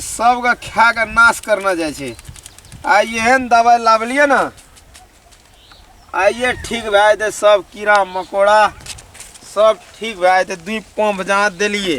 सबके खा के नाश करना जाइ छै आ एहन दवाइ लाबलिए ने आइए ठीक भए जेतै सब कीड़ा मकोड़ा सब ठीक भए जेतै दुइ पंप जहाँ देलिए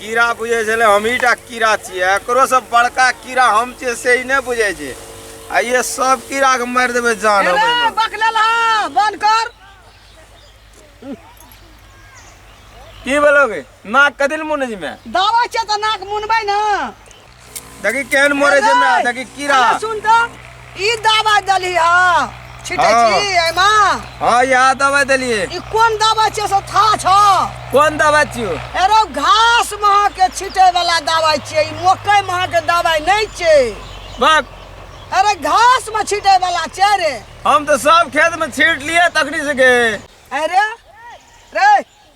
कीड़ा बुझै छलै हमहीटा कीड़ा छियै एकरोसँ बड़का कीड़ा हम छियै से ई नहि बुझै छै आ ये सब कीड़ाके मारि देबै जान हम एहिमे। अरे बक लेल हाँ बंद कर की भेलौ गे नाक कथी लए मुनै छी मे दावा छै तऽ नाक मुनबै ने देखी केहन मरे छै हमरा हेलो। देखी कीड़ा अरे सुन तो ई दवा दली ह छिटे हाँ। छी एमा हाँ यहाँ दवाई देलिए ई कोन दवा छै से था छ कोन दवाई छियो एरो घास महा के छिटे वाला दवाई छै ई मकई महा के दवाई नहीं छै बक अरे घास में छिटे वाला छै रे हम तो सब खेत में छीट लिए तखनी से के अरे रे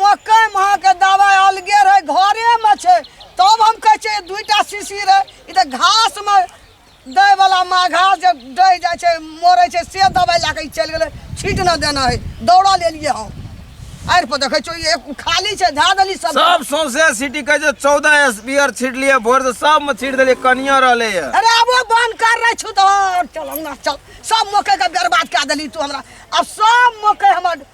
मकई महा के दवाई अलगे रहे घरे में छे तब हम कहे छे दुईटा शीशी रहे ई त घास में दै वाला माँ घास जे दै जाए छे मरे छे से दवाई ला के ई चल गेले छीट न देना है दौड़ा ले लिए हम आर पर देखे छो ये खाली छे धा देली सब सब सौंसे सिटी के जे चौदह स्पीयर छीट लिए भोर से सब में छीट देलिए कनिया रहले है अरे अब वो बंद कर रहे छु तो और चल ना चल सब मकई के बर्बाद कर देली तू हमरा अब सब मकई हमर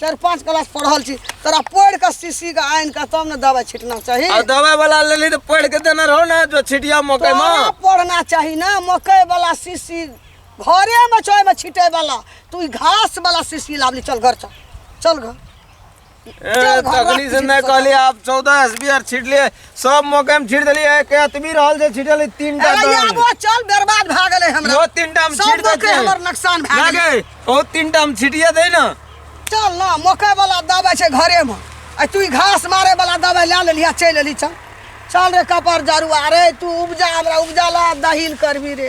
चारि पाँच क्लास पढ़ल छी तोरा पढ़ि कऽ शीशी के आनि कऽ तब ने दवाइ छिटना चाही आ दवाई वाला लेली तो पढ़ के देना रहो ना जो छिटिया मकई तोरा में पढ़ना चाही ना मकई वाला शीशी घरे में छै में छिटे वाला तू ई घास वाला शीशी लावली चल घर चल चल घर ए, तकनी से नहीं कहली आप चौदह एस बी आर छिट लिए सब मौके हम छीट देली है के अतमी रहल से छीटल है तीन टा अरे यार दल वो चल बर्बाद भा गेले हमरा वो तीन टा हम सब छीट मौके देते हमर नुकसान भा गेले लागे ओ तीन टा हम छीटिया दे ना चल ना मौके वाला दबाइ छै घरे में आ तू ई घास मारे वाला दबाइ लए लेली आ चलि एली चल चल रे कपर जरू अरे तू उपजा हमरा उपजा ला दहिल करबी रे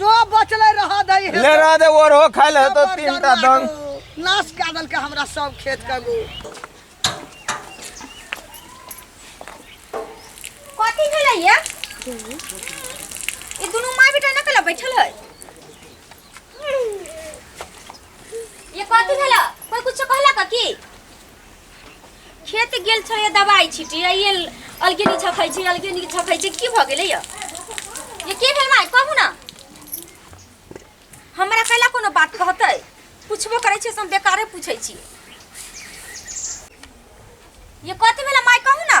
जो बचले रह दे हे ले रह दे ओर हो खाइल है तो तीन टा दंग नाश कऽ देलकै हमरा सब खेत के गो कथी भेलै ये ई दुनू माय बेटा नकल बैठल है ये कथी भेलै कोई कुछ कहला का की खेत गेल छलै दबाइ छिटी आ ये अलगे नी छखै छै अलगे नी छखै छै की भऽ गेलै यऽ ये की भेल माय कहू ना हमरा कैला कोनो बात कहतै पूछबो करै छै से हम बेकारे पूछै छी ये कथी भेल माय कहू ना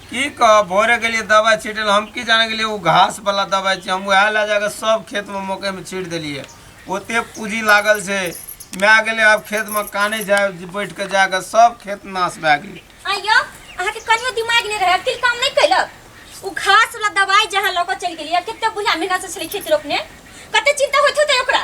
की कह भोरे गेलियै दवाइ छीटल हम की जाने गेलियै ओ घास वाला दवाइ छै हम वएह लए जाके सब खेत में मकई में छीट देलियै ओते पूजी लागल छै माय गेलै आब खेत में काने जाय बैठ के जाके सब खेत नाश भए गेलै आइयो अहाँ के कनियो दिमाग नहीं रहे अकिल काम नहीं कैलक उ घास वाला दवाई जहाँ लऽ के चल गेलिए कते बुझा मेहनत से छले खेत रोपने कते चिंता होइत होते ओकरा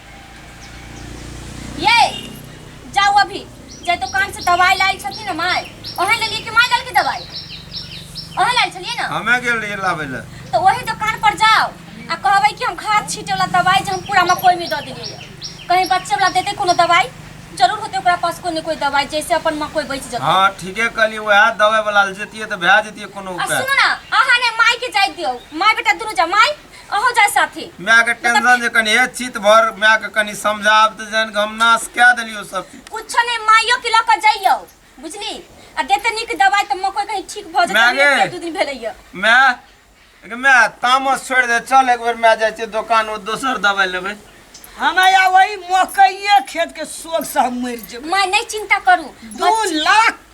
ये जाओ अभी जे दुकान से दवाई लायल छथिन ना माय ओहे ले लिए कि माय लाल की दवाई ओहे लायल छलिए ना हमे गेल रहिए लाबै लए तो वही दुकान पर जाओ आ कहबै कि हम खाद छीटे वाला दवाई जे हम पूरा मकई में दऽ देलिए कहीं बच्चे वाला देते कोनो दवाई जरूर होते ओकरा पास कोई न कोई दवाई जैसे अपन मकई बच जते हाँ ठीके कहली वएह दवाई वाला ले जतिए तऽ भए जतिए कोनो आ उपाय सुनो ना अहाँ ने माय के जाय दियो माय बेटा दुनू जा माय अहो जाय साथे माय के टेंशन जे कनी हे चित भर माय के कनी समझाब त जान के हम नाश कए देलियो सब चीज। कुछो नहीं माइयो के लऽ कऽ जइयो बुझली आ देते नीक दवाई तऽ मकई कहीं ठीक भऽ जेतै मागे। एक दू दिन भेलैया माय एक माय तामस छोड़ दे चल एक बेर माय जाय छै दुकान ओ दोसर दवाई लेबै हमारा वही मकइये खेत के शोक से हम मर जेबै माय नहीं चिंता करू दू लाख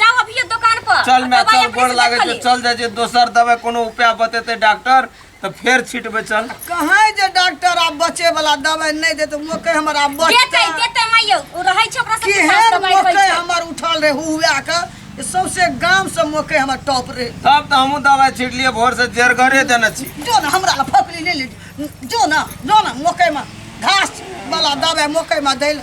जाओ अभी ये दुकान पर चल मैं दवाई चल अपने गोड़ से लागे देख जो ली। चल जाए जे दोसर दवाई कोनो उपाय बतेते डॉक्टर तो फिर छिटबे चल कहाँ जे डॉक्टर आब बचे वाला दवाई नहीं देते मोके हमर आब देते बचते देते माइयो उ रहै छै ओकरा सबके साथ केहन दवाई मोके होइ छै हमर उठल रहे हुआ के जे सौंसे गाम से मोके हमर टॉप रहे तब तो हमहू दवाई छिट लिए भोर से जेर घरे देने छी जो ना हमरा ला फकरी ले ले जो ना जो ना मोके में घास वाला दवाई मोके में दै ले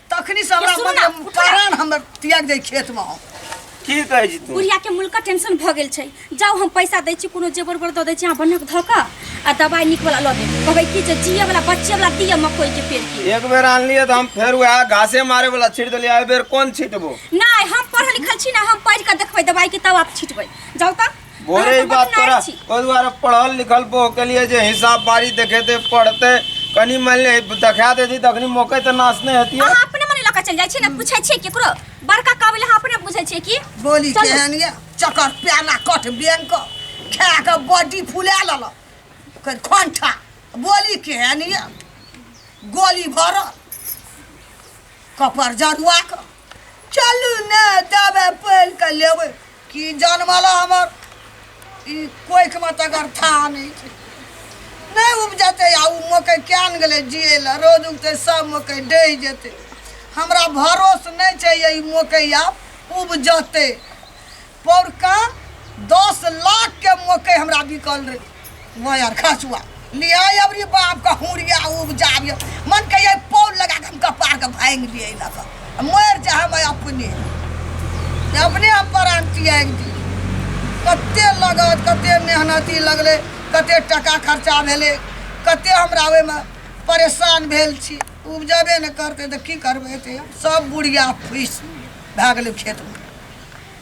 तखनी से हमरा ये सुन ना, मन उठा। प्राण हमर त्याग दे खेत में हम की कहै छी तू बुढ़िया के मुल्का टेंशन भ गेल छै जाओ हम पैसा दै छी कोनो जेबर बर दऽ दै छी अहाँ बनक धऽ कऽ आ दवाइ नीक वाला लऽ देब कहबै कि जे जिए वाला बच्चे वाला दिअ मकई के पेड़ के एक बेर आनलिए तऽ हम फेर वएह घासे मारे वाला छीट देलिए एहि बेर कोन छीटबो नहि हम पढ़ल लिखल छी ने हम पढ़ि कऽ देखबै दवाइ के तब आप छिटबै जाउ तऽ बोरे ही बात तोरा ओहि दुआरे पढ़ल लिखल बो के लिए जे हिसाब बारी देखेते पढ़ते कनी मान ले देखा देती तखनी मौके तऽ नाश नहि हेतियै अहाँ अपने मने लऽ कऽ चलि जाइ छियै ने पूछै छियै केकरो बड़का काबिल अहाँ अपने बुझै छियै कि बोली चलू। केहन ये चकर प्याला कठ बेन क खा के बॉडी फुला लल कर खंठा बोली केहन ये गोली भरल कपर जरुआ के चलू ने दबे पैल के लेबै कि जनमला हमर ई कोखिमे तकर था नहि छै नहि उपजतै आ ओ मकइ किएक ने गेलै जिए लए रोज उगतै सब मकइ डहि जेतै हमरा भरोस नहि छै जे ई मकइ आब उपजतै पौरका दस लाखके मकइ हमरा बिकल रहै वायर खसुआ लिया अबरी बाप के हुरिया उपजाबियो मन के ये पोल लगा के हम कपार के भांग लिए लग मर जा हम अपने अपने हम प्राण तियाग दी कते लगत कते मेहनती लगले कते टका खर्चा भेले कते हमरा ओहि में परेशान भेल छी उपजबे ने करते तऽ की करबै एते सब बुढ़िया फुसि भए गेलै खेतमे